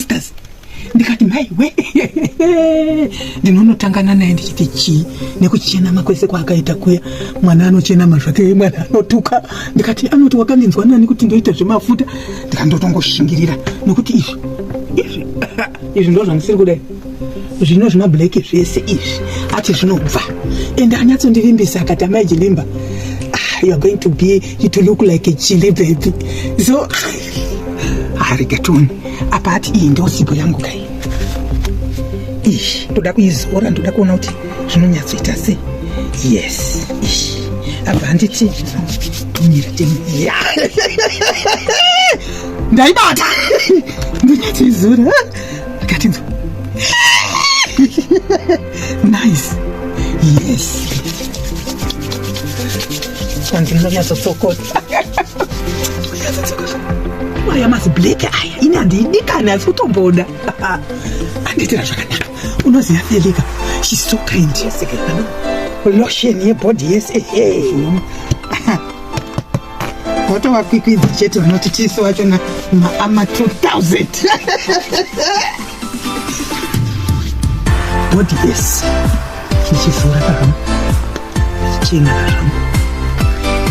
sisters ndikati maiwe ndinonotangana naye ndichiti chii nekuchenama kwese kwaakaita kuya mwana anochenama zvake mwana anotuka ndikati anoti wakandinzwa nani kuti ndoita zvemafuta ndikandotongoshingirira nokuti izvi izvi izvi ndo zvandisiri kudai zvino zvemablack zvese izvi ati zvinobva ende anyatsondivimbisa akati amai jilimba ah, youare going to be you to look like a chili baby so harigatoni apa ati iyi ndiyo sipo yangu kai ish ndoda kuizora ndoda kuona kuti zvinonyatsoita sei yes ish apa handiti mira temiya ndaibata ndonyatsoizora akatinzo nice yes kwanzi ndinonyatsotsokota aya mazibleke aya ini handiidikani asi kutomboda andiitira zvakanaka unoziva felika shes so kind lotion yebody yese votova kwikwidzi chete vanoti tisu vachona maama 2000 body yes chichizora kakam chichena kakam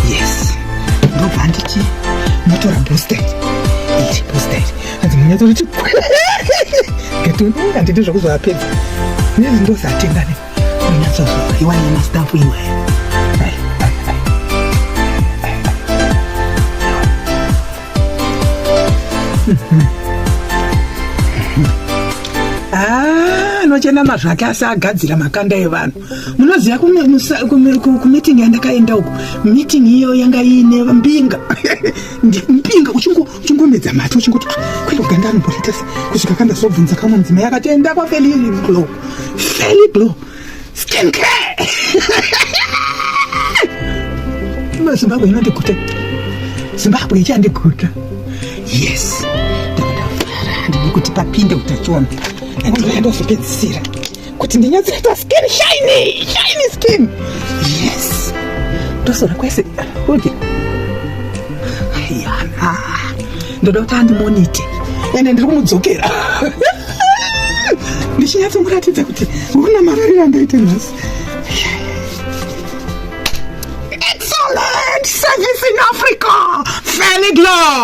yes ndobva nditi motora booster iri booster iri hanzi munyatoriti ngatona handiti zvakuzovapedza nezi ndozatengane munyatsozova iwani yemastafu iwaya Ah, anochena mazvo ake asi agadzira makanda evanhu munoziva kumiting yandakaenda uko miting iyo yanga iine mbinga mbinga uchingomedza mati uchingoti ah, kwenda kuganda anomboita se kusvika kandazobvunza kamwe mudzimai akatoenda kwafeliglo feliglo Skin care. Kama Zimbabwe inondikuta. Zimbabwe ichandikuta. Yes. Ndikuti papinde utachiona. Ndozopedzisira. Kuti ndinyatsoita skin shiny, shiny skin. Yes. Ndosora kwese. Oje. Ayana. ndoda kuti andimonite ende ndiri kumudzokera ndichinyatsomuratidza kuti urina mararira ndaite nhasi excellent service in africa felidlo